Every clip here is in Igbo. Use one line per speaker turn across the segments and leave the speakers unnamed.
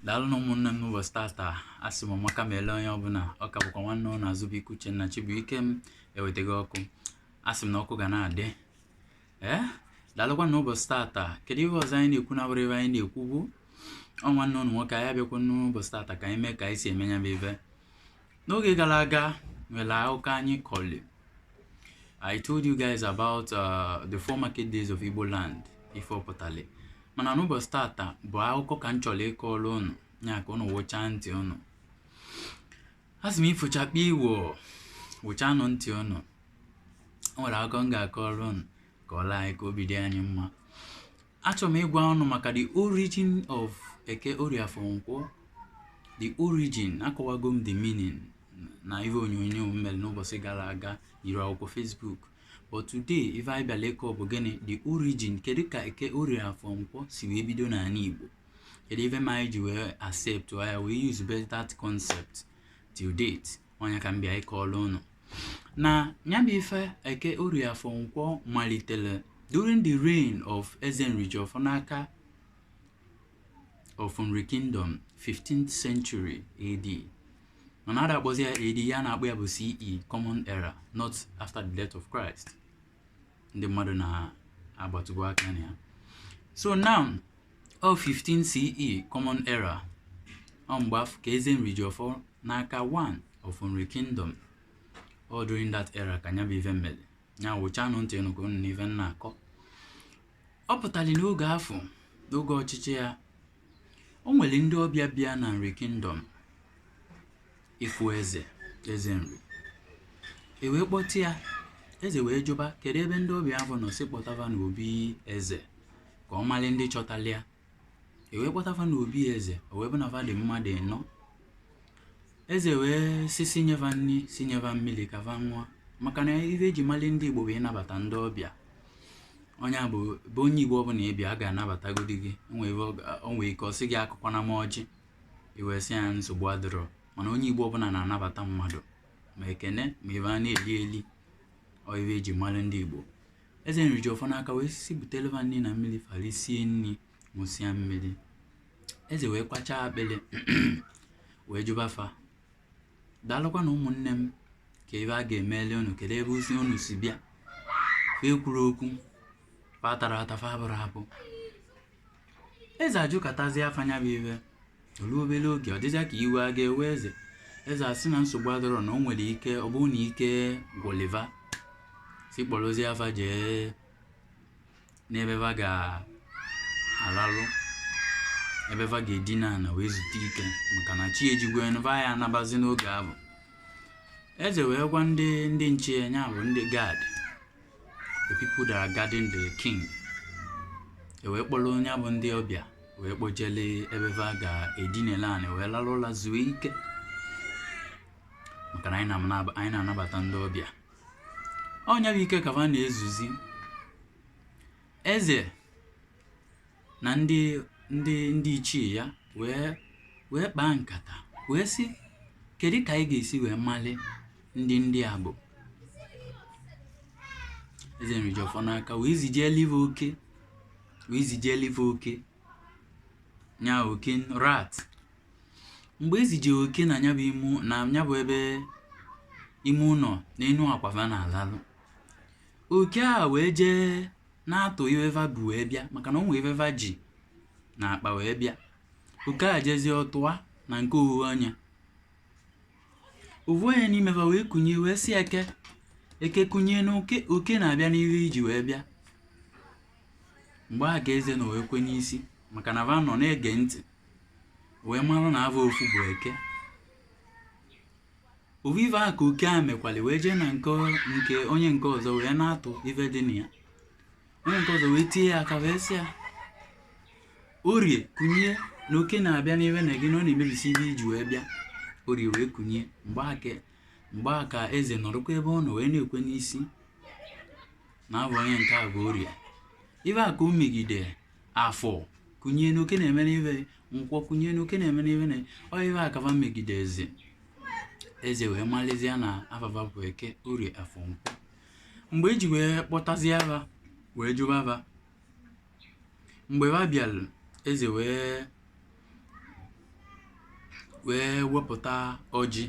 daalụ nụ ụmụnne m n'ụbọchị tata a sị m maka ma ele onye ọbụla ọ ka bụkwa nwanne ụnụ azụbụike uchenna chibuikem ewetago ọkụ a sị m na ọkụ ga na-adị ee daalụkwa na ụbọchị tata kedu ihe ọzọ anyị na-ekwu na-abụrọ ife anyị na-ekwubu ọ nwanne ụnụ nwoke anyị abịakwa n'ụbọchị tata ka anyị mee ka anyị si eme ya bụ ife N'oge gara aga nwere akụkọ anyị kọlị I told you guys about uh, the four market days of Igbo land ife ọ pụtali mana n'ụbọchị tata bụ akụkọ ka m chọrọ ịkọrọ ụnụ ya ka ụnụ wụchaa ntị ụnụ a sị m ifo chakpii woo wụchanụ ntị ụnụ o nwere akụkọ m ga-akọrọ ụnụ kọọlụ anyị ka obi dị anyị mma achọrọ m ịgwa ụnụ maka the origin of eke orie afọ nkwọ the origin akọwago m the meaning na ihe onyonyo m mere n'ụbọchị gara aga yiri akwụkwọ facebook but today ife anyị bịara ịkọ bụ gịnị the origin kedu ka eke orie afọ nkwọ si wee bido n'ala igbo kedu ife ma anyị ji wee accept ya wee use that concept till date ọ nya ka m bịa ịkọọla unu na ya bụ ife eke orie afọ nkwọ malitere during the reign of eze nrijiọfọ n'aka of nri kingdom 15th century ad mana a da-akpọzi ya ad ife a na-akpọ ya bụ ce common era not after the death of christ ndị mmadụ na-agbatụbu aka na ya so now ọ 15 CE common era ọ mgbe afụ ka eze nrijiọfọ n'aka one of nri kingdom ọ during that era ka nya bụ ife mele nya wụchanụ ntị unu ka unu nụ ife m na-akọ ọ pụtali n'oge afụ n'oge ọchịchị ya O nwere ndị ọbịa bịa na Nri Kingdom ịfụ eze eze nri e wee kpọta ya eze wee jụba kedu ebe ndị ọbịa ahụ nọ sị kpọta va n'obi eze ka ọ mara ndị chọtara ya e wee kpọta va n'obi eze o wee bụ na fa dị mmadụ ịnọ Eze wee sị sị nye va nri sị nye va mmiri ka va ṅụọ maka na ife eji mali ndị Igbo bụ ịnabata ndị ọbịa onye a bụ bụ onye Igbo ọbụla ị bịa ọ ga-anabatagodi gị o nwe ife ọ ga- o nwee ike ọ sị gị akọkwana m ọjị i wee sị ya nsogbu adịrọ mana onye Igbo ọbụla na-anabata mmadụ ma ekene ma ife a na-eli eli ọ ife eji mali ndị Igbo eze nrijiọfọ n'aka wee sị butele va nri na mmiri fa lisie nri ṅụsịa mmiri eze wee kwachaa akpịrị wee jụba fa daalụkwa nụ ụmụnne m kee ife a ga-emeli unu kedu ebezi unu si bịa fa ekwurọ okwu fa atarọ ata fa abụrọ abụ eze ajụkatazie fa nya bụ ife o lu obere oge ọ dịzịa ka iwe a ga-ewe eze eze asị na nsogbu adịrọ na o nwere ike ọ bụrụ na ike gwụli va sị kpọrọzie fa jee n'ebe va ga-alalụ ebe va ga-edina ana wee zute ike maka na chi ejigwo va ya anabazi n'oge ahụ eze wee gwa ndị ndị nche ya nya bụ ndị guard the people that are guarding the king e wee kpọlụ nya bụ ndị ọbịa wee kpojele ebe va ga-edinele anị wee lalụ ụla zuo ike maka na anyị na-anabata ndị ọbịa ọ nya bụ ike ka va na-ezuzi eze na ndị ndị ndị ichie ya wee wee kpaa nkata wee sị kedu ka anyị ga-esi wee mali ndị ndị a bụ eze nrijiọfọ n'aka wee zijeli va oke wee zijeli va oke nya oke rat mgbe e zije oke na ya bụ ime na ya bụ ebe ime ụlọ na enu akwa va na-alalụ oke a wee jee na-atụ ive va bu wee bịa maka na o nwee ive va ji na akpa wee bịa oke a jezie ọtụa na nke ovu onye ovu onye n'ime va wee kunye wee sị eke eke kunye na oke oke na-abịa n'ive i ji wee bịa mgbe a ka eze nọ wee kwe n'isi maka na va nọ na-ege ntị wee mara na ava ofu bụ eke ovu ife a ka oke a mekwali wee jee na nke nke onye nke ọzọ wee na-atụ ife dị na ya onye nke ọzọ wee tie ya aka wee sị ya orie kunye na oke na-abịa n'ife na gị na ọ na-emebisi ife i ji wee bịa orie wee kunye mgbe a ka mgbe a ka eze nọrọkwa ebe ọ nọ wee na-ekwe n'isi na ava onye nke a bụ orie ife a ka o megide afọ kunye na oke na-emelụ ive nkwọ kunye na oke na-emelụ ive na ọ ive a ka va megide eze eze wee malizie na ava va bụ eke orie afọ nkwọ mgbe e ji wee kpọtazia va wee jụba va mgbe va bịalụ eze wee wee wepụta ọjị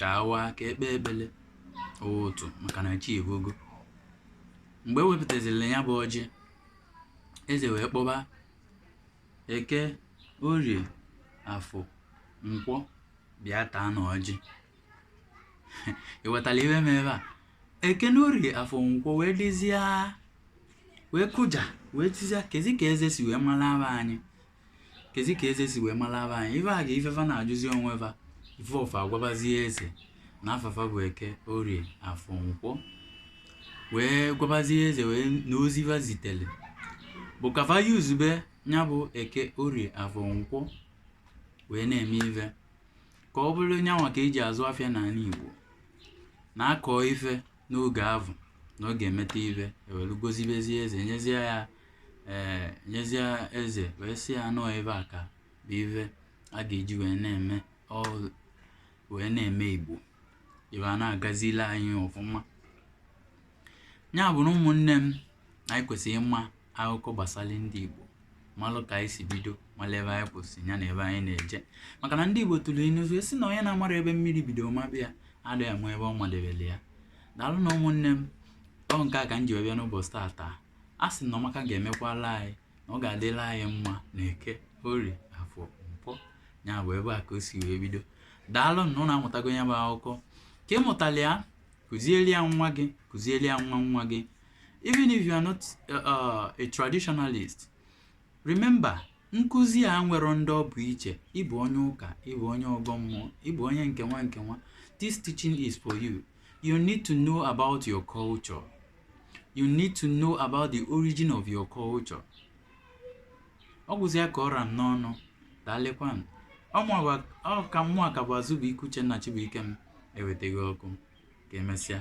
ka a wa ka e kpee ekpele otu maka na chi evogo mgbe e wepụtazili ya bụ ọjị eze wee kpọba eke orie afọ nkwọ bịa taanụ ọjị ịghọtara ive mee ebe a eke na orie afọ nkwọ wee dịzie wee kụja wee tizia kezi ka eze si wee malụ ava anyị kezi ka eze si wee malụ ava anyị ife a ga ife va na-ajụzi onwe va ife ọ fa agwabazie eze na afa fa bụ eke orie afọ nkwọ wee gwabazie eze wee na ozi va zitele bụ ka va guzobe ya bụ eke orie afọ nkwọ wee na-eme ife ka ọ bụlụ nyanwa ka e ji azụ afịa n'anị igbo na-akọ ife n'oge avụ na ọ ga-emeta ive e welu gozibezie eze nyezie ya ee nyezie eze wee sị ya na ọ ebe a ka bụ ive a ga-eji wee na-eme ọrụ wee na-eme Igbo ive a na-agazili anyị ọfụma ya bụ na ụmụnne m anyị kwesịrị ịma akụkọ gbasara ndị Igbo malụ ka anyị si bido malụ ebe anyị kwụsị ya na ebe anyị na-eje maka na ndị Igbo tụrụ inu wee sị na onye na-amarọ ebe mmiri bido maba ya adịghị ama ebe ọ madebere ya daalụnụ ụmụnne m ọ nke a ka m ji wee bịa n'ụbọchị tata a sị na ọma ka ga-emekwala anyị na ọ ga-adịlị anyị mma na eke orie afọ nkwọ ya bụ ebe a ka o si wee bido daalụ na ụnụ amụtago ya bụ akụkọ ka ị mụtara ya kụziere ya nwa gị kụziere ya nwa nwa gị even if you are not uh, uh, a traditionalist remember nkụzi a enwerọ ndị ọ bụ iche ị bụ onye ụka ị bụ onye ọgọ mmụọ ị bụ onye nke nwa nke nwa this teaching is for you you need to know about your culture you need to know about the origin of your culture ọ gwụzịa ka ọ ra m n'ọnụ daalụkwanụ ọ ka mụwa ka bụ Azụbụike Uchenna Chibuikem ewetaghị ọkụ ka emesịa